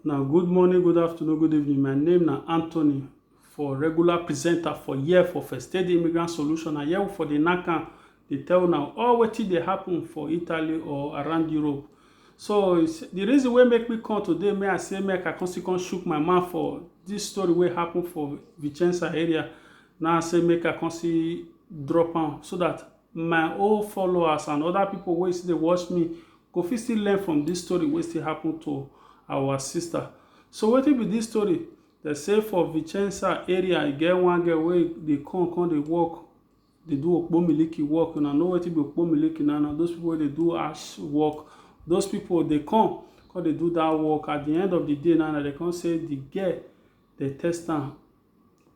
Una good morning, good afternoon, good evening. My name na Anthony for regular presenter for here for First Aid Immigrant Solution. And here we for the NACAN dey tell una all wetin dey happen for Italy or around Europe. So it's, the reason wey make me come today, may I say make I come still come shook my mouth for this story wey happen for Vicenza area. Now I say make I come see drop am so that my old followers and other people wey still dey watch me go fit still learn from this story wey still happen to our sister so wetin be this story dem say for vicenza area e get one girl wey dey come come dey work dey do okpo miliki work una know wetin be okpo miliki na na those people wey dey do ash work those people dey come come dey do that work at the end of the day na na dem come say the girl dey test am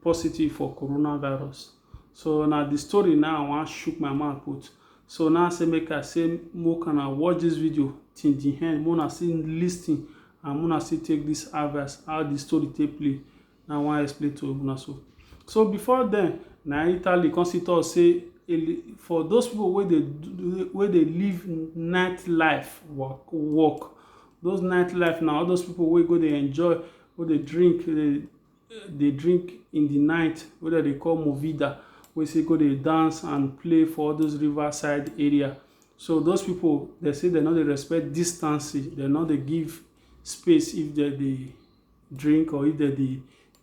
positive for coronavirus. So na the story now I wan shook my mouth put. So now I say make I say make una watch this video till the end, make una still lis ten and make una still take this advice how the story take play. Na I wan explain to una so. So before then, na Italy come still talk say for those people wey dey wey dey live night life work work those night life na all those people wey go dey enjoy wey dey drink dey dey drink in the night wey dem dey call movida wey say go dey dance and play for all those river side area so those people dem say dem no dey respect distance dem no dey give space if dem dey drink or if dem dey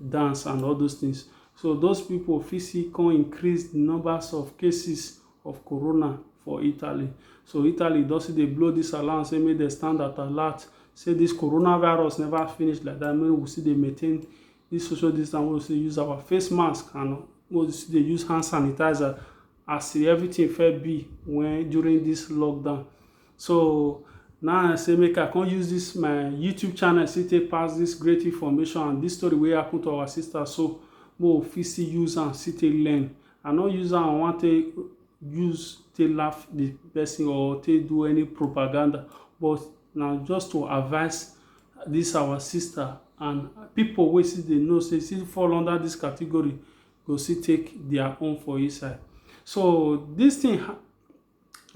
dance and all those things so those people fit still come increase the numbers of cases of corona for Italy. So Italy don still dey blow this alarm say make dem stand at alert say this coronavirus never finish like that make we still dey maintain this social distance we still use our face mask and we still dey use hand sanitizer as everything fit be when during this lockdown. So now I say make I come use this my YouTube channel still take pass this great information and this story wey happen to our sister so make we fit still use am still take learn I no use am I wan take use take laugh the person or take do any propaganda but na just to advise this our sister and people wey still dey know say still fall under this category go still take their own for inside. So this thing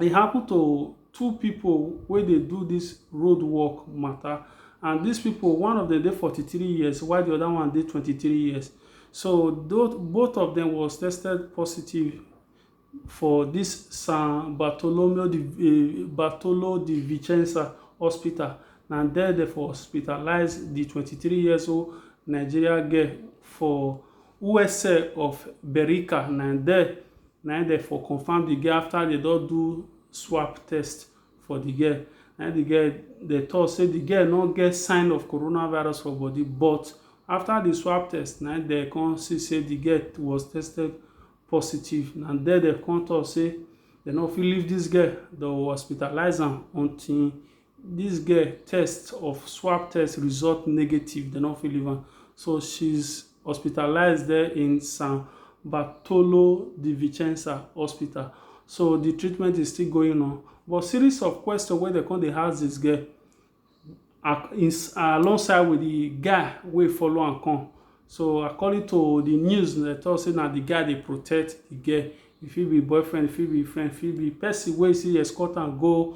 e happen to two pipu wey dey do dis road work matter and dis pipu one of dem dey forty three years while de other one dey twenty three years so both of dem was tested positive for dis San Bartolome de Vicenza hospital na there dem for hospitalize de twenty three years old Nigerian girl for USA of Berica na there Na im dem for confirm the girl after dem don do swap test for the girl. Na im the girl dem talk say the girl no get sign of coronavirus for body but after the swap test na im dem come see say the girl was tested positive. Na there dem come talk say dem no fit leave this girl. Dem hospitalize am until This girl test of swab test result negative, dem no fit leave am so she's hospitalized there in San Bartolo di Vicenza hospital. So the treatment is still going on. But series of questions wey dem come dey ask this girl alongside with the guy wey follow am come. So according to the news, dem talk say na the guy dey protect the girl. E fit be boyfriend, e fit be friend, e fit be person wey still escort am go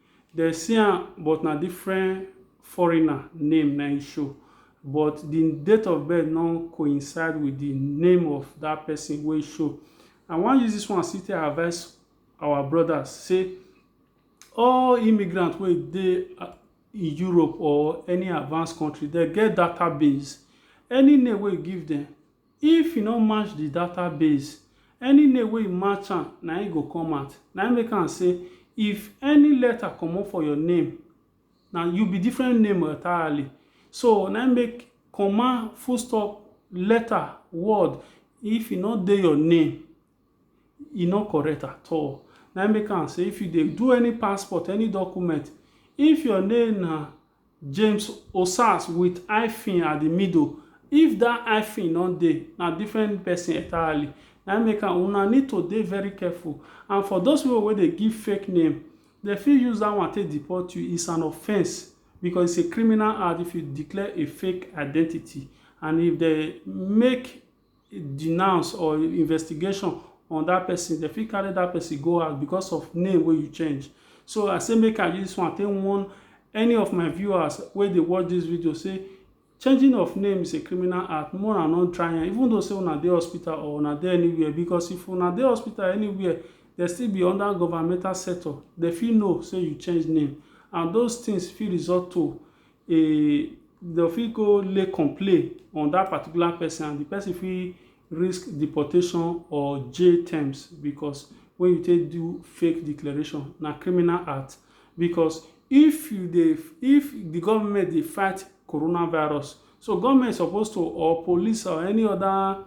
Dem see am but na different foreigner name na im show but di date of birth no coincide with di name of dat person wey show. I wan use dis one still take advice our brothers say all immigrants wey dey in Europe or any advanced country dem get database. Any name wey you give dem, If e no match di data base, any name wey e match am na im e go come out. Na im make am say if any letter comot for your name, na you be different name entirely. So na im make comma, full stop, letter, word, if e no dey your name, e no correct at all. Na im make am say if you dey do any passport, any document, if your name na James Osas with hyphen at the middle if that hyphen no dey na different person entirely na im make am una need to dey very careful and for those people wey dey give fake name dem fit use that one take deport you is an offence because it's a criminal act if you declare a fake identity and if dem make denounce or investigation on dat person, dem fit carry dat person go house because of name wey you change. So I say make I use dis one take warn any of my viewers wey dey watch dis video say changing of name is a criminal act make una no try am even though say una dey hospital or una dey anywhere because if una dey hospital anywhere dem still be under governmental sector dem fit know say you change name and those things fit result to e dem fit go lay complain on that particular person and the person fit risk deportation or jail terms because when you take do fake declaration na criminal act because if you dey if the government dey fight coronavirus so government suppose to or police or any other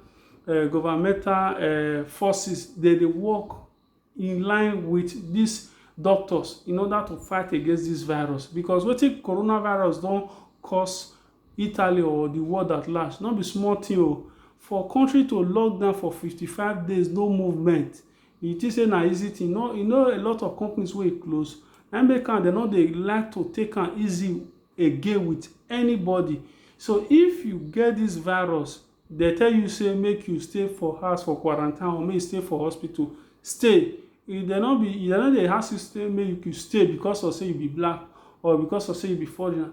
uh, governmental uh, forces dey dey work in line with these doctors in order to fight against this virus because wetin coronavirus don cause Italy or the world at large no be small thing o for country to lock down for 55 days no movement you think say na easy thing no you know a lot of companies wey close na make am dem no dey like to take am easy again with anybody so if you get this virus Dem tell you say make you stay for house for quarantine or make you stay for hospital, stay. If dem no be, if dem no dey ask you say make you stay because of say you be black or because of say you be foreigner.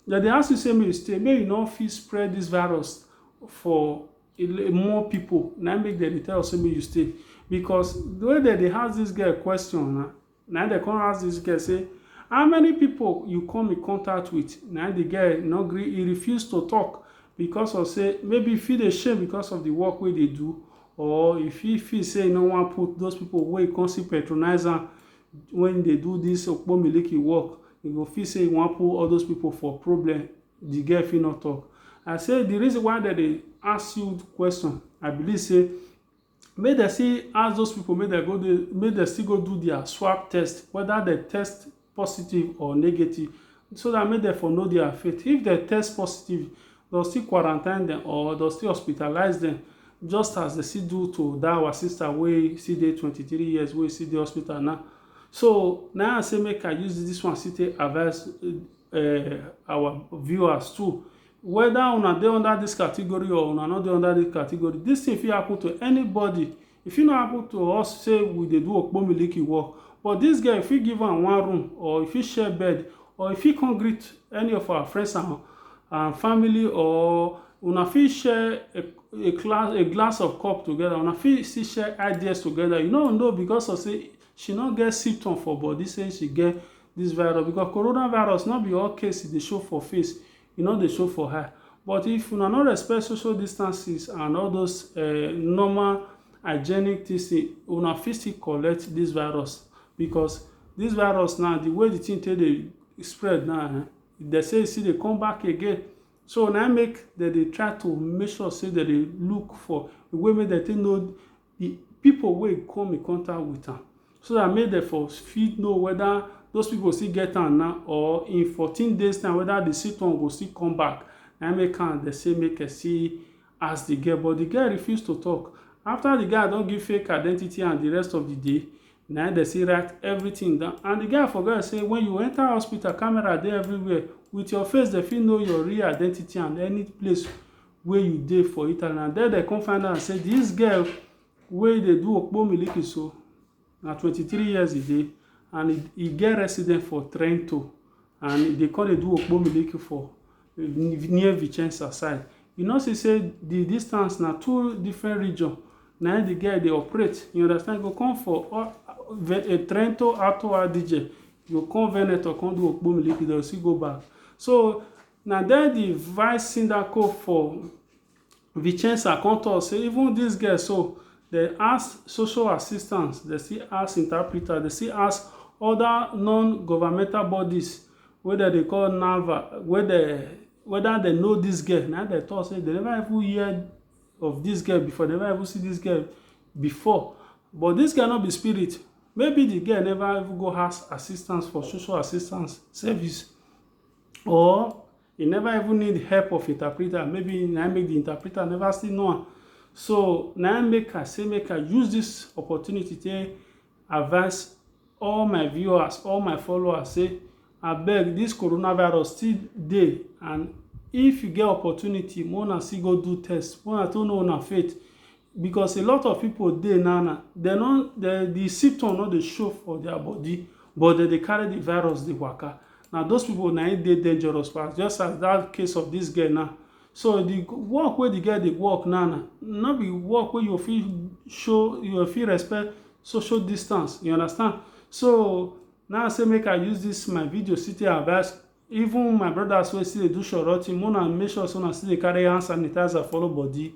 Dem dey ask you say make you stay make you no fit spread dis virus for more pipu. Na im make dem dey tell you say make you stay because the way dem dey ask dis girl question na Na im dem come ask this girl say, how many people you come in contact with? Na im the girl no gree, he refuse to talk because of say maybe he fit dey shame because of the work wey dey do or he fit feel say he no wan put those people wey come still patronize am when he dey do this okpo miliki work, he go feel say he wan put all those people for problem, the girl fit no talk. I say the reason why dem dey ask you question, I believe say Make dem still ask those people make dem go dey make dem still go do their swab test whether dem test positive or negative so that make dem for know their faith. If dem test positive, dem still quarantine dem or dem still hospitalize dem just as dem still do to that our sister wey still dey twenty three years wey still dey hospital now. So na im I say make I use this one still take advice um our viewers too. whether una dey under this category or una no dey under this category this thing fit happen to anybody e fit no happen to us say we dey do okpomiliki work but this girl fit give am one room or e fit share bed or e fit come greet any of our friends and, and family or una fit share a, a, class, a glass of cup together una fit still share ideas together you no know because of say she no get symptom for body say she get this virus because coronavirus no be all case e dey show for face e no dey show for eye but if una no respect social distances and all those um normal hygienic this thing una fit still collect this virus because this virus now the way the thing take dey spread now um they say e still dey come back again so na im make dem dey try to make sure say dem dey look for the way make dem take know the people wey come in contact with am so dat make dem for fit know weda those people still get am na or in fourteen days time weda the symptom go still come back na im make am dem say make dem still ask the girl but the girl refuse to talk after the guy don give fake identity and the rest of the day na im dem still write everything down and the guy forget say when you enter hospital camera dey everywhere with your face dem fit know your real identity and any place wey you dey for Italy na there dem come find out say this girl wey dey do okpo miliki so na 23 years e dey and e, e get resident for Trento and e dey come dey do okpo miliki for near Vicenza side you know see say the distance na two different region na the girl dey operate you understand go come for uh, uh, Trento Alto Adige go come Veneto come do okpo miliki dem still go back so Na den di vice sindaco for Vicenza kon tok say even dis girl so, dem ask social assistants, dem still ask interpreters, dem still ask oda non-governmental bodies wey dem dey call NAVA, wey dem weda dem know dis girl, na im dem tok say dem neva even hear of dis girl before, dem neva even see dis girl before. But dis girl no be spirit, maybe di girl neva even go ask assistance for social assistance service. or you never even need help of interpreter maybe na make the interpreter never still know am so na make i say make i use this opportunity take advise all my viewers all my followers say abeg this coronavirus still dey and if you get opportunity make una still go do test make una to know una faith Because a lot of pipo dey now na dem no de di symptom no dey show for dia body but dem dey carry di virus dey waka na those pipo na im dey dangerous pass just as dat case of dis girl now so di work wey di girl dey work now na no be work wey you go fit show you go fit respect social distance you understand so na im I say make I use dis my video still take advice Even my brothers wey still dey do shoroti, make una make sure say una still dey carry hand sanitizer follow body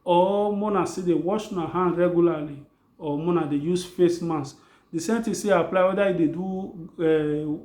or make una still dey wash una hand regularly or make una dey use face mask. The same thing still apply whether you dey do um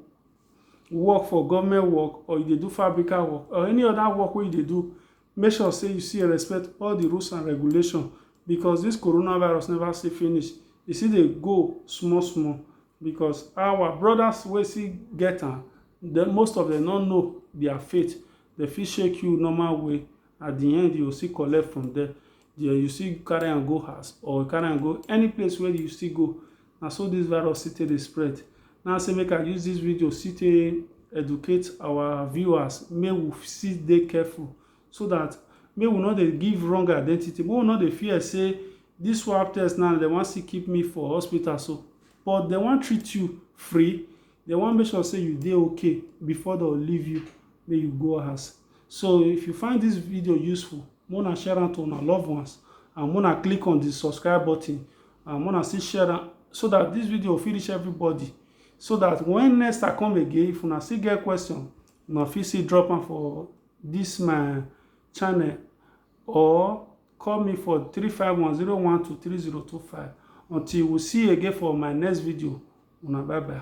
work for government work or you dey do fabrical work or any other work wey you dey do, make sure say you still respect all the rules and regulation because this coronavirus never still finish. E still dey go small small. Because our brothers wey still get am, dem most of dem no know their faith. Dem fit shake you normal way, at the end you go still collect from them. There you still carry am go house or carry am go any place wey you still go. Na so this virus still take dey spread. Na say make I use this video still take educate our viewers make we still dey careful so that make we no dey give wrong identity make we no dey fear say this swab test now dem wan still keep me for hospital so but dem wan treat you free dem wan make sure say you dey okay before dem leave you make you go house so if you find this video useful mona share am to una loved ones and mona click on the subscribe button and mona still share am so that this video fit reach everybody so that when next i come again if una still get question una fit still drop am for this my channel or call me for 35101230225 until we see you again for my next video una bye bye